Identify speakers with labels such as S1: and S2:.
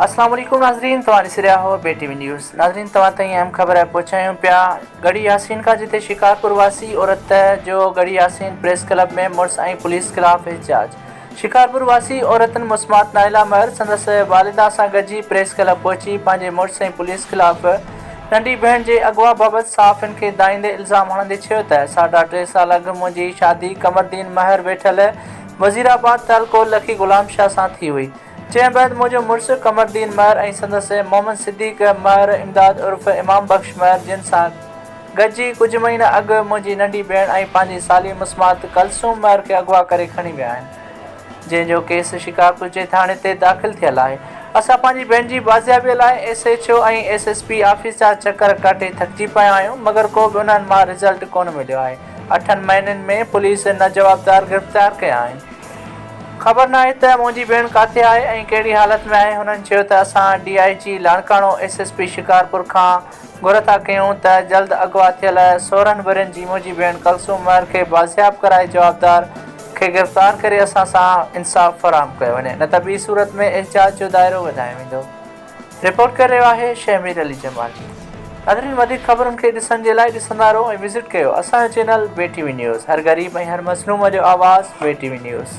S1: السلام عليڪم ناظرين توهان ڏسي رهيا هو بي ٽي وي نيوز ناظرين توهان تائين اهم خبر پهچايون پيا ڳڙهي ياسين کان جتي شڪارپور واسي عورت جو ڳڙهي ياسين پريس ڪلب ۾ مڙس ۽ پوليس خلاف احتجاج شڪارپور واسي عورتن مسمات نائلا مهر سندس والده سان گڏجي پريس ڪلب پهچي پنهنجي مڙس ۽ پوليس خلاف ننڍي ڀيڻ جي اغوا بابت صحافين کي دائيندي الزام هڻندي چيو ته ساڍا ٽي سال اڳ منهنجي شادي قمردين مهر ويٺل وزيرآباد تعلقو لکي غلام شاهه سان ٿي هئي جنهن بعد منهنجو مڙس قمرالدين مهر ۽ سندس محمد صديق مهر امداد عرف امام بخش مهر جن سان گڏجي ڪجهه مهينا اڳ منهنجي ننڍي ڀيڻ ۽ پنهنجي سالي مسمات ڪلثوم مهر کي اغوا ڪري کڻي ويا آهن جنهن جو ڪيس شڪارپور جي ٿاڻي تي داخل ٿيل آهي اسان پنهنجي ڀيڻ جي بازيابي لاء S H O ۽ S S P office جا چڪر ڪاٽي ٿڪجي پيا آهيون مگر ڪو به انهن مان رزلٽ ڪونه مليو آهي اٺن مهينن ۾ پوليس نه جوابدار گرفتار ڪيا آهن خبر ناهي ته منهنجي ڀيڻ ڪاٿي آهي ۽ ڪهڙي حالت ۾ آهي، هنن چيو ته اسان D I G Larkana S S P Shikarpur کان گهر ٿا ڪيون ته جلد اغوا ٿيل سورهن ورهين جي منهنجي ڀيڻ ڪلثوم مهر کي بازياب ڪرائي جوابدار کي گرفتار ڪري اسان سان انصاف فراهم ڪيو وڃي نه ته ٻي صورت ۾ احتجاج جو دائرو وڌايو ويندو. رپورٽ ڪري رهيو آهي شهمير علي جمالي. ناظرين وڌيڪ خبرن کي ڏسڻ جي لاء ڏسندا رهو ۽ وزٽ ڪيو اسان جو channel V T V news هر غريب ۽ هر مظلوم جو آواز وي ٽي وي نيوز.